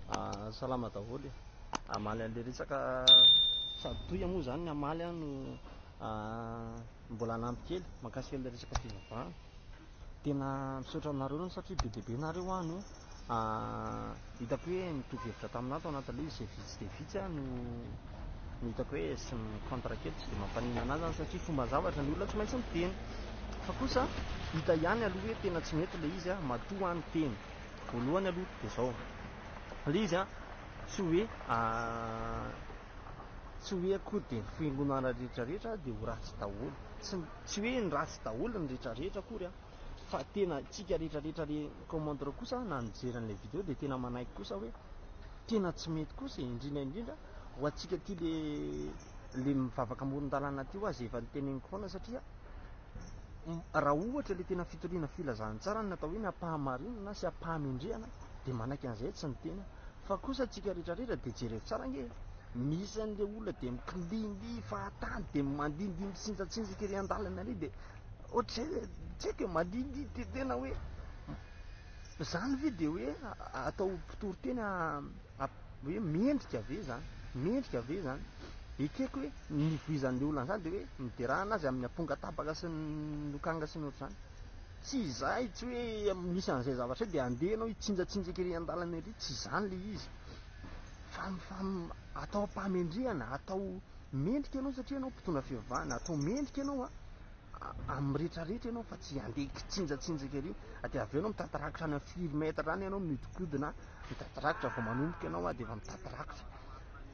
Ah, salama daholo e. Hamaly an'ilay resaka sady toy moa izany ny hamaly aho no ah, mbola hanampy kely mankasika an'ilay resaka fivavahana. Tena misaotra aminareo loatra satria be dia be nareo aho no ah, hitako hoe mitovy hevitra tamin'ahy tao anatin'ilay izy izay vitsy dia vitsy aho no no hitako hoe sy mi-contre kely tsy dia mampaninona an'ahy izany satria fomba zavatra ny olona tsy maintsy miteny fa kosa hita ihany aloha hoe tena tsy mety ilay izy ah, matoa aho no teny. Voalohany aloha dia izao, please an, tsy hoe tsy hoe akory dia ny fiangonana rehetra rehetra dia ho ratsy daholo, tsy tsy hoe ny ratsy daholo ny rehetra rehetra akory an, fa tena tsika rehetra rehetra le commenter kosa na nijery an'ilay video dia tena manaiky kosa hoe tena tsy mety kosa e, indrindra indrindra ho antsika aty le le mivavaka amoron-dalana aty hoa zay efa niteneniko foana satria raha ohatra ilay tena fitoriana filazantsara no natao hoe ny ampahamarinana sy ampahamendrehana dia manaiky an'izay tsy ny tena fa kosa tsika retraretra dia jereo tsara nge misy an'ilay olona dia miklindi fahatany dia mandindi mitsinjatsinjaka iry andalana iry dia ohatr'izay le tsika mandindi de tena hoe zany ve dia hoe atao mpitoriteny hoe mendrika ve izany? Mendrika ve izany? Ekeko hoe ny nivoizan'ilay olona an'izany dia hoe niderana azy amin'ny amponga tabaka sy ny lokanga sy ny ohatr'izany. Tsy izay, tsy hoe misy an'izay zavatra izay dia handeha ianao hitsinjatsinjaka ery an-dalana ery, tsy izany ilay izy. Fa, fa atao am-pahamendrehana, atao mendrika ianao satria ianao mpitondra fivavahana, atao mendrika ianao an. amin'ny rehetra rehetra ianao fa tsy handeha kitsinjatsinjaka ery dia avy eo ianao mitady rakitra any amin'ny firy mètre any ianao mihodinkodina mitady rakitra vao manomboka ianao dia efa mitady rakitra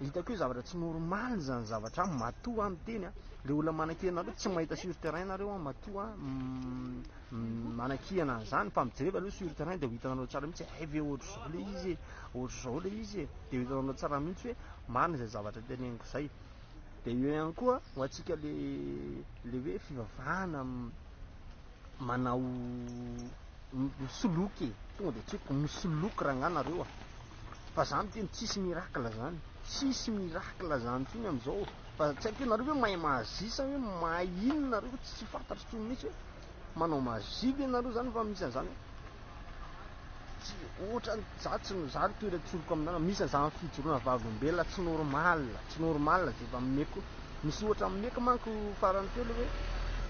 hitako hoe zavatra tsy normal izany zavatra an matoa an miteny an le olona manakihana anareo tsy mahita sur terrain nareo an matoa mm, mm, manakihana an'izany fa mijereva aloha sur terrain dia ho hitanareo tsara mihitsy hay ve ohatr'izao le izy e ohatr'izao le izy e dia ho hitanareo tsara mihitsy hoe marina izay zavatra teneniko izay Dia eo ihany koa ho antsika le le hoe fivavahana manao misoloky e, tonga dia tsy hoe misoloky rangah nareo a. Fa za miteny tsisy miracle zany, tsisy miracle zany intsony amin'izao fa tsy haiko hoe nareo ve mahay mahazisa hoe mahay inona nareo tsy fantatro intsony mihitsy hoe. Manao magie ve nareo zany va misy anzany tsy otrany za tsy no za toira tsoriko aminana misy anzany fijorona vavolombelona tsy normal tsy normal ze va meko misy ohatra meko manko farany teo le hoe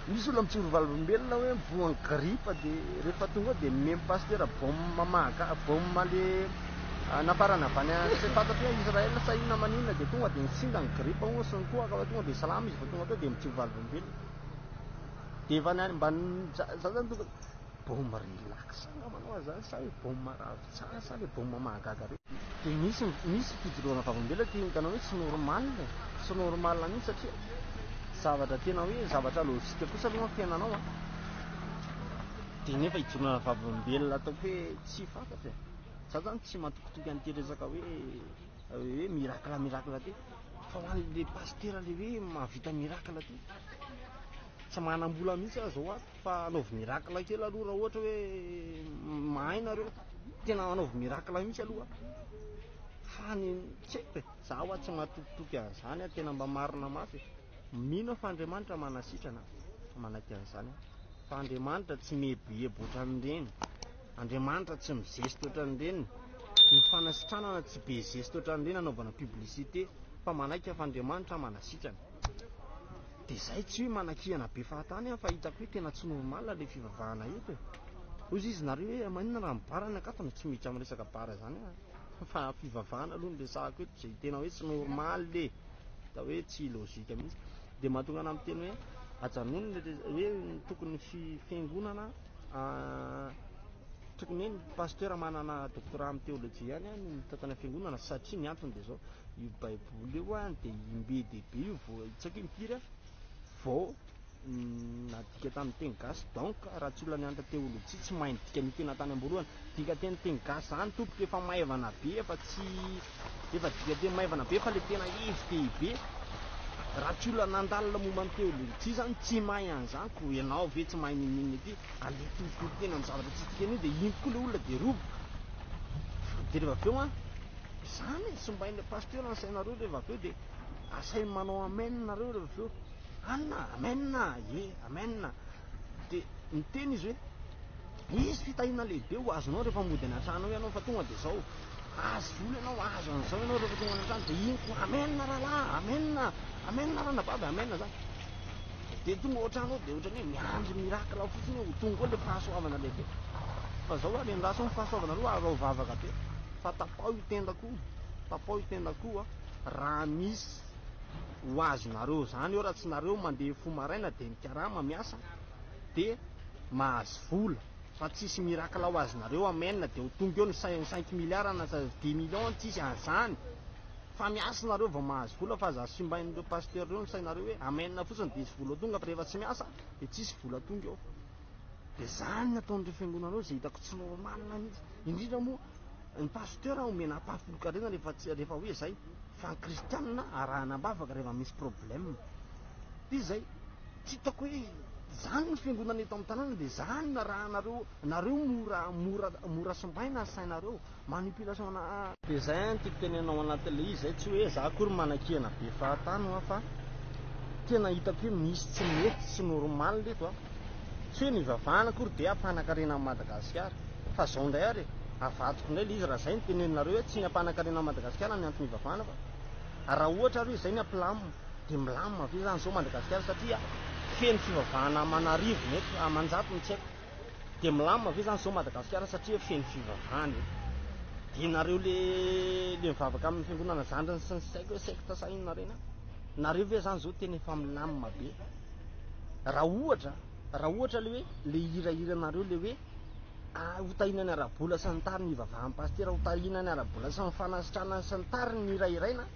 misy olona mijoro vavolombelona hoe voan gripa de rehefa tonga de mem pasteur bombe maga bombe le ah, nafarana avy any tsy fantatro hoe Israël sa inona maninona de tonga de nitsinda ny gripa oa sy ny koa ka tonga de salama izy vao tonga teo de mijoro vavolombelona Dia efa nany mba za za zany tokony bôma relax angamba anao zany sa hoe bôma ravin-tsaha sa le bôma mahagaga be. Dia misy misy fijoroana vavolombelona ty hitanao hoe tsy normal e, tsy normal mihitsy satria zavatra tena hoe zavatra lojika kosa aloha ny fiainanao a. Dia nefa hijoroana vavolombelona ataoko hoe tsy fantatra e. Za zany tsy matokitoky an'ity resaka hoe. Hoe miracle miracle ty fa ho an'ny le pasitera le hoe mahavita miracle ty tsy manam-bola mihitsy aho zao ato fa anaovy miracle kely aloha raha ohatra hoe mahay nareo tena anaovy miracle mihitsy aloha fa ny tsy haiko e za ho aho tsy mahatokitoky an'izany a tena mba marina mafy mino aho fa andriamanitra manasitrana manaiky an'izany aho fa andriamanitra tsy mihebohebo ohatran'ireny Andriamanitra tsy mizesty otran'ireny Ny fanasitranana tsy be zesty otran'ireny anaovana publicité fa manaiky aho fa Andriamanitra manasitrana Dia izay tsy hoe manakihana be fahatany aho fa hitako hoe tena tsy normal ilay fivavahana eto e Hozy izy nareo hoe maninona raha mibara ny ankato no tsy miditra amin'ny resaka bara izany aho a Fa fivavahana aloha no resahako eto izay tena hoe tsy normal e Hita hoe tsy logique mihintsy Dia mahatonga anah miteny hoe ajanony ilay resaka hoe tokony fiangonana tokony hoe ny pasteur manana doctorat amin'ny théologie ihany no mitantana ny fiangonana satria ny antony dia izao io baiboly io any dia imbe dia be io vao tsy haiko impiry a vao nadika tamin'ny teny gasy donc raha tsy olona nianatra théologie tsy mahay ny dikan'io tena tany amboalohany Dikateny teny gasy zany tompoko efa maivana be efa tsy efa dikateny maivana be fa le tena izy tehibe raha tsy olona nandalina momba ny teolojia zany tsy mahay an'izany ko ianao ve tsy mahay ninoninona ity aleha torotoro tena ny zavatra tsy dikany io de iny tokoa le olona de roboka de reva avy eo an izany e simbainy le pasteur ny sainareo reva avy eo de asainy manao amen nareo reva avy eo anona amen e amen de miteny izy hoe Misy fitahiana lehibe ho azonao rehefa mody any an-trano ao ianao fa tonga dia izao, azo vola ianao, azo an'izao ianao rehefa tonga any an-trano dia iny koa amen rahalahy, amen, amen ranabavy, amen zany. Dia tonga ao an-trano ao dia ohatran'ny hoe miandry miracle ao fotsiny hoe ho tonga ao ilay fahasoavana lehibe. Fa izao ary endraso ny fahasoavana aloha ary raha ho vavaka be. Fa tapaho io tendako io, tapaho io tendako io a, raha misy ho azonareo izany eo, raha tsy nareo mandeha fo maraina dia mikarama miasa, dia mahazo vola fa tsisy miracle ho azonareo amen dia ho tonga eo ny cinq milliard na dix millions tsisy anzany fa miasa nareo vao mahazo vola fa aza simbain'ireo pasteur ireo ny sainareo hoe amen fotsiny dia hisy vola tonga fa rehefa tsy miasa dia tsisy vola tonga eo dia zany ny ataon'ireo fiangonanareo izay hitako tsy normal mihitsy indrindra moa ny pasteur omena ampahafolokarena rehefa rehefa hoe zay Fa ny kristianina arahana am-bavaka rehefa misy problème. Dia izay. Tsy hitako hoe izany ny fiangonana eto amin'ny tanàna dia izany no arahanareo. Nareo mora mora mora simbaina ny sainareo. Manipulation ana. Dia izay an tiako tenenina ao anatin'ilay izy izay tsy hoe za akory manakiana be fahatany hoa fa tena hitako hoe misy tsy mety, tsy normal eto an. Tsy hoe nivavahana akory dia hampanankarena an'i Madagasikara. Fa izao indray ary e, avadiko indray ilay izy raha izay no teneninareo hoe tsy ny hampanankarena an'i Madagasikara no antony hivavahana fa raha ohatra ary hoe izay ny hampilamina dia milamina ve izany izao Madagasikara satria feno fivavahana aman'arivony eto, amanjatony tsy haiko. Dia milamina ve izany izao Madagasikara satria feno fivavahana eto. Dia nareo le le mivavaka amin'ny fiangonana zandriny sy ny tsy haiko hoe secte sa inona ireny an! Nareo ve izany izao tena efa milamina be? Raha ohatra, raha ohatra le hoe le hira hiranareo le hoe ho tahina ny ara-bola sy ny tariny ivavahan'ny pasitera ho tahina ny ara-bola sy ny fanasitrana sy ny tariny ny hira iraina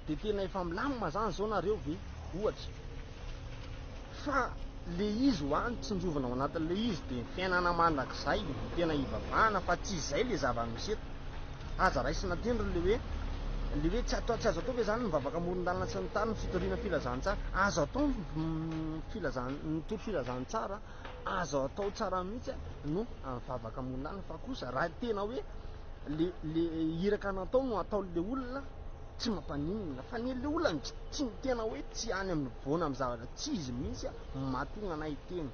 dia tena efa milamina zany izao nareo ve ohatra fa le izy ho any tsinjovina ao anatin'le izy dia ny fiainana mandrakizay no tena ivavahana fa tsy izay le zava-misy eto Aza raisina adino ry le hoe le hoe tsy atao tsy azo atao ve zany ny mivavaka amoron-dalana sy ny tany ny fitoriana filazantsara azo atao ny filazan nitory filazantsara azo atao tsara mihitsy a no mivavaka amoron-dalana fa kosa raha tena hoe le le iraka natao no atao le olona tsy mampaninona fa ny le olona tsy tena hoe tsy any amin'ny voana amin'ny zavatra tsy izy mihitsy a mahatonga anay teny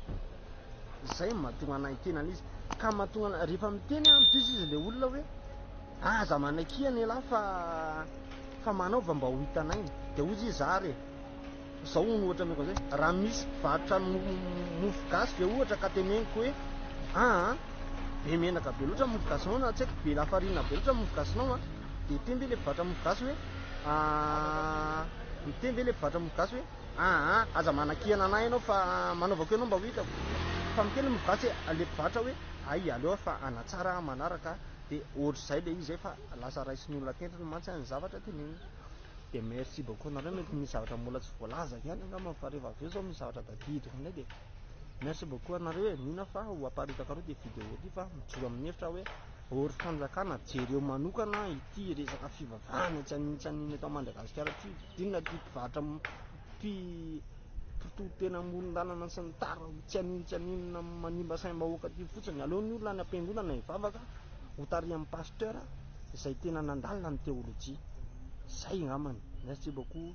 Izay mahatonga anay hiteny an'izy. Ka mahatonga anay, rehefa miteny an, diso izy ilay olona hoe, aza manaikia an'ialahy fa, fa manaova mba ho hitanay. Dia hoy izy, zary e, izao hono ohatra ameko izay, raha misy mpivarotra mofo gasy ve ohatra ka teneniko hoe, aa, be menaka be loatra mofo gasinao na tsy haiko be lafarinina be loatra mofo gasinao an, dia hiteny ve ilay mpivarotra mofo gasy hoe, aa, hiteny ve ilay mpivarotra mofo gasy hoe, Ah ah aza manakihana anah ianao fa manaovako ianao mba ho hitako fa mikely mivatsy e aleko vatra hoe aia aleo aho fa hanatsara aho manaraka a dia ohatr'izay ilay izy zay fa lasa raisin'ny olona tentriny mantsy a ny zavatra tenenina dia merci beaucoup anareo mety misy zavatra mbola tsy voalazako ihany angamba fa rehefa avy eo zao misy zavatra tadidiko indray dia merci beaucoup anareo e mihina fa ho aparitako anareo ity video ity fa mijoro amin'ny hevitra hoe ory fanjakana jereo manokana ity resaka fivavahana tsy anintsy an'iny eto Madagasikara ity Inona ity mpivarotra mpitoriteny amoron-dalana sy ny tara tsy haninona tsy haninona manimba saim-bahoaka ity fotsiny. Aleo ny olona any am-piangonana hivavaka ho tarihan'ny pasteur izay tena nandalina ny teolojia. Izay angambany. Merci beaucoup.